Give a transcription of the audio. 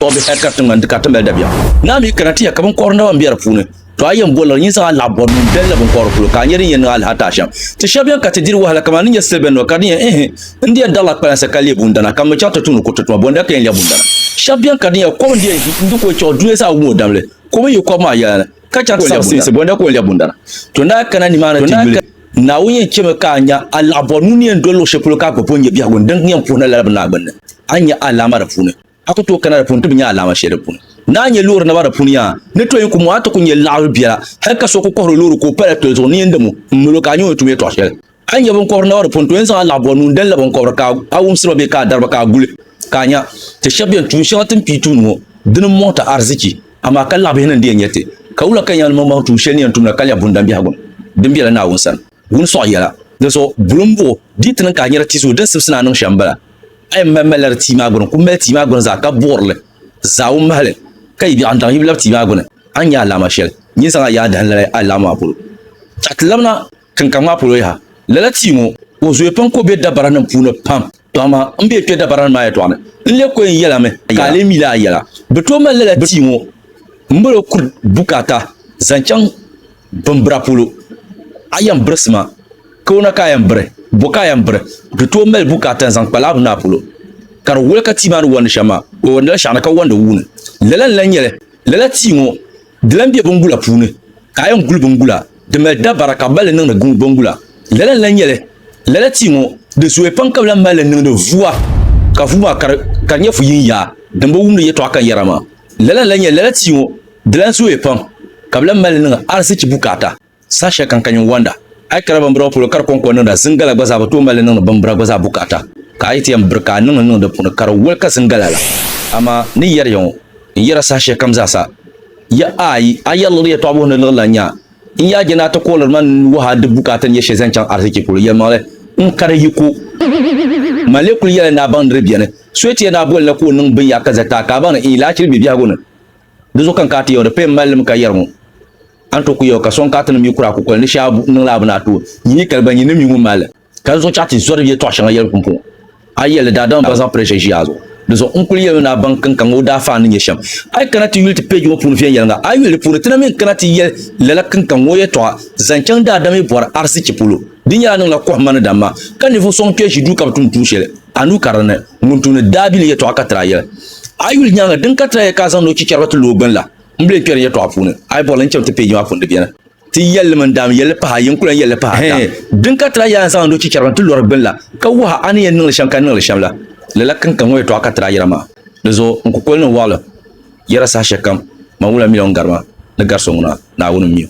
Tɔbu bɛ hɛlikaf ti ŋmani di ka ti mali dabiɛm. Naa mi kana ti ya ka binkɔbiri naba m-be di puuni. To a yɛn bolila nyin zaŋ a laɣ bɔri mini bɛlli binkɔbiri polo ka a nya din yɛn niŋ a lahataa shɛm. Ti shɛb bɛn ka ti diri wahala kaman di nyɛ siliba nima ka di yɛn ihi n di yɛn darila kpalansi ka leei bundana ka mi chaŋ ti tumdi kuriti tuma bɔnda ka yɛn lɛbi bundana. Shɛb bɛn ka di nyɛla kom n di yɛn ʒi n di ko chiɣu dunia zaa wum o damli ka o mi yi kɔb maa yɛla ni ka chaŋ ti sabi sinsi bɔnda ka o lɛbi bundana. To daa kana nimaani ti yuli. Naawuni yɛn chɛmi ka a nya a laɣ bɔri nuu ni yɛn doli luɣ shɛli polo ka a gba bo n-nyɛ biɛhigu n din yɛn puhi na lala bini maa gbinni. A ni nya a alaama di puuni. A ku tooi kana di puuni ti bi nya alaama shɛli di puuni. Naa nyɛ loori naba di puuni yaa ni tɔyin ku mo a ti ku nya laɣiri biɛla hali ka so ku kɔhiri o loori ka o pala toli zuɣu ni yɛn dam o m-mali o ka a nya o ni tum yɛtɔɣ shɛli. A ni nya binkɔbiri naba di puuni tɔyin zaŋ a laɣ bɔri nuun-dali la binkɔbiri ka a wumsi ba bee ka a dari ba ka a guli ka a nya ti shɛb bɛn tuun shɛŋa ti ni pii tumdi ŋɔ di ni mɔɣi ti arzichi amaa ka laɣ bihi ni n di yɛn nya ti ka wula ka ni yɛn niŋ baŋ tuun shɛli ni yɛn tumda ka nya bundambiɛhigu din bela Naawuni sani. Wun sɔɣi yɛla, dinso buli m-buɣu di ti niŋ ka a nyari ti zuyu din sibisi ni a niŋ shɛm m-bala. A yɛn mali malila di tia maa gbuni, ku mali tia maa gbuni zaa ka buɣiri li zaa wun mahi li, ka yi biɛɣu n-daŋ yi bi labi tia maa gbuni, a ni nya alaama shɛli nyin zaŋ a yaai dahin lala alaama maa polo. Tɔɣi ti labina tinkaŋ maa polo yaha. Lala tia ŋɔ, o zooi pam ka o be dabaranim puuni pam. Tɔ amaa m be kpe dabaranim maa yɛtɔɣa ni, n leei kɔin yɛla mi ka a lee mila a yɛla. Bɛ tooi mali lala tia ŋɔ m-boli o kuri bukaata zaŋ chaŋ. Bimbira polo, a yɛn birisi ma, kawana ka a yɛn biri, bo ka a yɛn biri, di tooi mali bukaata n-zaŋ kpa laabu naa polo. Ka di woli ka tia maa ni wandi shɛm maa, o wandila shɛɣuni ka wandi wuuni. Lala n-lan nyɛ li, lala tia ŋɔ, di lan be bingula puuni, ka a yɛn guli bingula, di mali dabara ka bɛ mali li niŋdi bingula. Lala n-lan nyɛ li, lala tia ŋɔ, di zooya pam ka bɛ lan mali li niŋdi vua, ka vua maa ka di nyɛ fu yin yaa din bi wumdi yɛtɔɣa ka yɛra maa. Lala n-lan nyɛ lala tia ŋɔ, Di lan zooya pam, ka bɛ lan mali li niŋ arizichi bukaata saha shɛli kam ka nyin wɔnda. A yi kara bimbira ŋɔ polo ka di kɔŋko niŋda, zingala gba zaa bi tooi mali li niŋdi bimbira gba zaa bukaata. Ka a yi ti yɛn biri ka a niŋ li niŋ di puuni, ka di woli ka zingala la. Amaa ni yɛri ya ŋɔ, n yɛra saha shɛli kam zaasa, Ya ayi, a yɛri liɣiri yɛtɔɣ buhi ni liɣiri lan nya. N ya je ni a ti kuɣiliri ma n wuhi a di bukaata ni yɛ shɛli zaŋ chaŋ arizichi polo. Yɛlimaŋli, n kari yiko. Man lee kul yɛli ni a baŋ ni di beni. So yi ti yɛn daa boli na ka o niŋ binyaɣ ka zali ti a, ka a baŋ ni n yi lahi chɛ li bɛ biɛhigu ni. Di zuɣu ka n kana ti ya o, di paya m-mali li mi ka yɛri ŋɔ, a ni tooi kuli ya o, ka sɔŋ ka a ti niŋ mi kura kukoli ni shee a niŋla a bini a tooi nyi ni kali ba nyin ni mi ŋun mali li. Ka di zuɣu chaɣ ti zɔri yɛtɔɣ shɛŋa yɛli pumpɔŋɔ. A yi yɛli li, daadama bɛn zaŋ pressure ʒi a zuɣu. Di zuɣu n kuli yɛli mi ni a baŋ kinka ŋɔ o daafaan ni nyɛ shɛm. A yi kana ti yuli ti page ŋɔ puuni viɛnyɛliŋga, a yi yuli di puuni, ti na mi ni kana ti yɛli lala kinka ŋɔ yɛtɔɣa zaŋ chaŋ daadama yi bɔri arzichi polo. Di nyɛla a niŋla kɔhimma ni damma, ka ninvuɣ sɔŋ kpɛri ʒi duu ka bi tumdi tuun shɛli a nuu karili ni. Ŋun tumdi daabili yɛtɔɣa ka tira yɛli, A yi yuli nyaaŋa, din ka tira yɛli ka a zaŋdi o chichɛriba ti lo o gbini la, m bi leei kpɛri n yɛtɔɣa puuni. A yi bɔri li, n cham ti peeji maa puuni di beni. Ti yɛli li mi n-daa mi yɛli li pahi ayi, n ku lan yɛli li pahi ata. Din ka tira yɛli a ni zaŋdi o chichɛriba n-ti lɔri gbini la, ka wuhi a a ni yɛn niŋ li shɛm ka niŋ li shɛm la, lala ka n ka ŋɔ yɛtɔɣa ka tira yɛra maa. Di zuɣu n kukoli ni n wɔɣilim yɛra saha shɛlikam, Man ŋuna mi la ŋun gari ma, ni gari so ŋuna, Naawuni m-mi o.